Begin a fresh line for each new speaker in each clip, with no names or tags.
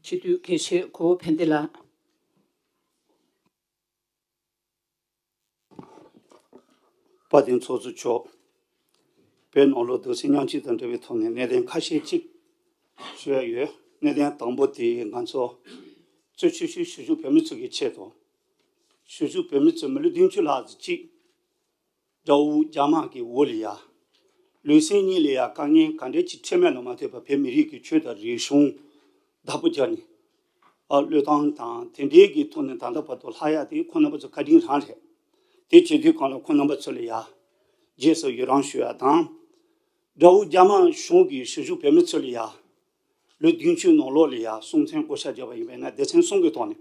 སྤྱི་འཐུས་དགེ་བཤེས་གོ་བོ་ཕན་བདེ་ལགས།
དཔའ་གདེང་ཚོགས་གཙོ་མཆོག། བོད་ནང་ལོ་དུ་ཟིང་ཉམས་ཅིག་དང་འབྲེལ་བའི་ཐོག་ནས་གནད་དོན་ཁ་ཤས་ཅིག་ཞུ་ཡ་ཡོད། གནད་དོན་དང་པོ་དེ་ང་ཚོ་གཙོས་ཆོས་ཞུ་ཞུ་བཞུགས་བོད་མི་ཚོ་གི་ཆེད་དང། ཞུ་བཞུགས་བོད་མི་ཚོས་མི་ལོ་བདུན་ཅུ་ལྷག་གཅིག་དགྲ་བོ་རྒྱ་དམག་གི་འོ་ལི་ཡ། ལུས་སེམས་གཉིས་ལ་ཡང་དཀའ་ངལ་ག་འདྲའི་ཆེ་ཁྲེལ་མེད་ལ་མ་ལྟོས་པར་བོད་མི་རིགས་ཀྱི་ཆོས་དང་རིག་གཞུང་བདག་པོ་རྒྱག་ནས། བློས་བཏང་དང་དེ་འབྲེལ་གྱི་ཐོག་ནས་ད་ལྟ་བར་དུ་ལྷ་ཡག་དེ་ཁོ་རྣམ་པ་ཚོ་བཀའ་དྲིན་རང་རེད། དེ་བྱེད་དུས་གང་ལ་ཁོ་རྣམ་པ་ཚོ་ལ་ཡར་རྒྱས་སུ་ཡོད་རང་ཞུ་བ་དང། དགྲ་བོ་རྒྱ་དམག་གཞུང་གིས་ཞུ་ཞུ་བོད་མི་ཚོ་ལ་ཡར། ལོ་བདུན་ཅུའི་ནང་ལོགས་ལ་ཡར་གསུང་མཚན་བསྐོ་བཞག་བྱས་པ་ཡིན་པས་ན་སྡེ་ཚན་གསུམ་གྱི་ཐོག་ནས།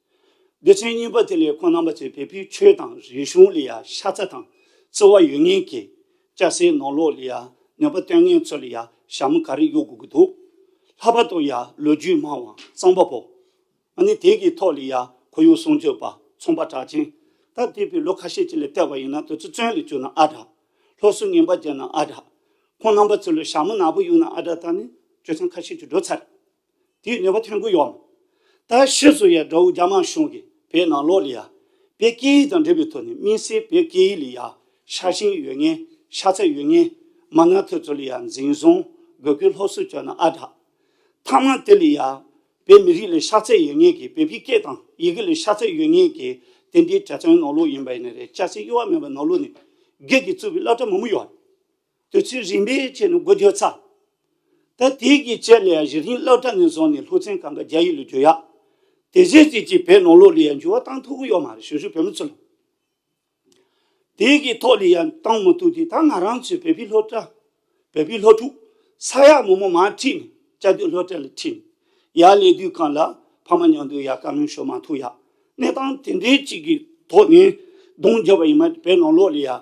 སྡེ་ཚན་གཉིས་པ་དེ་ལས་ཁོང་རྣམ་པ་ཚོས་བལ་པོའི་ཆོས་དང་རིག་གཞུང་ལ་ཡང་ཤ་ཚ་དང་བརྩེ་བ་ཡོད་ངེས་ཀྱི། སྐྱ་སེར་ནོར་ལོག་ལ་ཡང་ནུས་པ་བཏོན་མཁན་ཚོ་ལ་ཡང་ཞྭ་མོ་ག་རེ་གཡུག་དགོས་ཀྱི་འདུག་ལྷག་པར་དུ་ཡང་ལོ་རྒྱུས་མང་བའང་གཙང་པ་བོ། ང་ནི་དེ་གི་ཐོག་ལ་ཡང་ཁོར་ཡུག་སྲུང་སྐྱོབ་པ་ཚོང་པ་གྲགས་ཅན་ད་ལྟའི་བའི་ལོ་ཁ་ཤས་ཅིག་ལ་བལྟས་པ་ཡིན་ན་དོལ་ཚོ་བཙོན་ལ་བཅུག་ན་ཨ་དྲག། ལྷོ་སུ་ངན་པ་བརྒྱབ་ན་ཨ་དྲག། ཁོང་རྣམ་པ་ཚོ་ལ་ཞྭ་མོ་ནག་པོ་གཡུག་ན་ཨ་དྲག་ད་ནི་ཆོས་ཚང་ཁ་ཤས་ཀྱི་འགྲོ་ཚར། དེའི་ནུས་པ་ཐོན་ཁུལ་ཡོང། ད་ཕྱིས་སུ་ཡ་དགྲ་བོ་རྒྱ་དམར་གཞུང་གིས་བོད་ནང་ལོགས་ལི་ཡ། བོད་སྐད་ཡིག་དང་འབྲེལ་བའི་ཐོག་ནས་དམིང་སའི་བོད་སྐད་ཡིག་ལི་ཡ་ཤར་ཞིང་ཡོད་ངེས་ཤར་ཚད་ཡོད་ངེས། མ་ནག་ཐོས་ཚོ་ལི་ཡ་འཛིན་བཟུང་དགོས་སྐུལ་སློབ་གསོ་བྱོས་ན་ཨ་དྲག། ཐང་མ་དེ་ལི་ཡ། བོད་མི་རིགས་ལི་ཤར་ཚད་ཡོད་ངེས་ཀྱི་བོད་པའི་སྐད་དང་ཡི་གེ་ལི་ཤར་ཚད་ཡོད་ངེས་ཀྱི་དེ་འདྲའི་གྲྭ་བཙུན་ནོར་ལུག་ཡིན་པ་ཡིན་ནི་རེད་སྐྱ་སེར་གཡོ་བ་མེད་པ་ནོར་ལུག་ནི་སྒེར་གྱི་གཙུག་པའི་བླ་གྲྭ་མང་པོ་ཡོད། དུས་ཚོད་རིམ་པས་ཆད་ནས་སྒུག་རྒྱུ་ཚར། ད་ཐེངས་ཀྱི་དཔྱད་གླེང་གཞི་རིམ་སློབ་གྲྭ་ནས་བཟུང་ནས་ལྷུག་བཙན་སྒང་གི་རྒྱ་ཡིག་ལ་འགྱུར་ཡག་དེ་གཞི་རྩའི་སྤྱི་པའི་ནང་ལོགས་ལ་ཡང་འགྱུར་བ་གཏང་ཐུབ་གི་ཡོད་མ་རེད་ཞུ་ཞུ་བོད་མི་ཚོ། དེ་གི་ཐོག་ལ་ཡང་གཏང་མི་ཐུབ་དུས་ད་ང་རང་ཚོའི་བོད་པའི་སློབ་གྲྭ། བོད་པའི་སློབ་ཕྲུག། ས་ཡ་མང་མང་མར་ཁྲིད་ནས་བཅའ་སྡོད་སློབ་གྲྭ་ལ་ཁྲིད་ནས་ཡར་ལས་དུས་གང་ལ་ཕ་མ་ཉང་དུ་ཡར་བཀའ་མོལ་ཞུ་མ་ཐུབ་ཡག་གནས་སྟངས་དེ་འདྲའི་ཅིག་གི་ཐོག་ནས་གདོང་རྒྱབ་པ་ཡིན་མ་བོད་ནང་ལོགས་ལ་ཡར།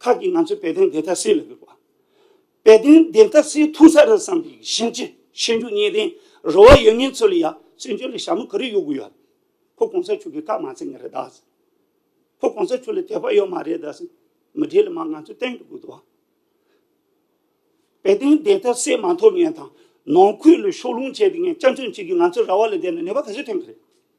ཁག་གིས་ང་ཚོས་དཔལ་ལྡན་བདེ་མཐའ་སེལ་ལ་དགོས་པ། དཔལ་ལྡན་བདེ་མཐའ་སེལ་ཐུང་ས་རུ་བསམ་པའི་བཞིན་གྱི་ཤེས་འཇོན་གཉིས་ལྡན་རུ་བ་ཡོད་ངེས་ཚོ་ལ་ཡང་བཙན་བྱོལ་ལ་ཞྭ་མོ་ག་རེ་ཡོད་དགོས་ཡ། ཁོ་གོང་ས་ཆོས་ཀྱི་བཀའ་མ་ཚད་ངེས་རེད་ད། ཁོ་གོང་ས་ཆོས་ལ་དད་པ་ཡོད་མ་རེད་ད། མི་བསྒྲིལ་ལ་མ་ང་ཚོས་བསྟན་དགོས་ད། དཔལ་ལྡན་བདེ་མཐའ་སེལ་མ་ཐོབ་ངེས་དང། ནང་ཁུལ་ལ་ཕྱོགས་ལྷུང་བྱས་ཏེ་ངས་སྐྱག་མཆོད་བྱེད་ཀྱི་ང་ཚོའི་ར་བ་ལ་བསྡད་ན་ནད་པ་ག་ཚོད་ཐོན་གི་རེད།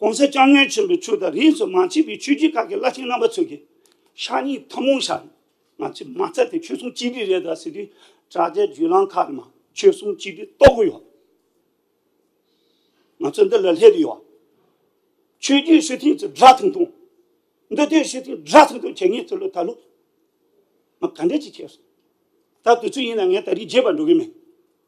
གོང་གསལ་སྐྱབས་གནས་ཆེན་པོའི་ཆོས་དང་རིས་སུ་མ་མཆིས་པའི་ཆོས་རྒྱུད་ཁག་གི་བླ་ཆེན་རྣམ་པ་ཚོས་ཀྱི། ཤག་གཉིས་ཐུན་མོང་ཤག་ནི་ང་ཚོས་མ་རྩ་དེ་ཆོས་སྲུང་གཅིག་སྒྲིལ་རེད་ད་ཟེར་དུས་དྲ་རྒྱའི་བརྒྱུད་ལམ་ཁག་གི་ནང་ཆོས་སྲུང་གཅིག་སྒྲིལ་གཏོར་གི་ཡོད། ང་ཚོ་འདི་ལ་སླེབས་དུས་ཡོད། ཆོས་རྒྱུད་སྲོལ་ཐུན་ཚོ་སྒྲ་ཐུང་ཐུང། འདུ་སྡོད་སྲོལ་ཐུན་སྒྲ་ཐུང་ཐུང་བྱས་ངས་ཚོ་ལོ་ད་ལོ། ང་ག་འདྲ་ཅིག་བྱས་སོང། ད་དུས་ཚོད་ཡིན་ན་ངས་ད་རིས་རྒྱས་པར་འགྲོ་གི་མེད།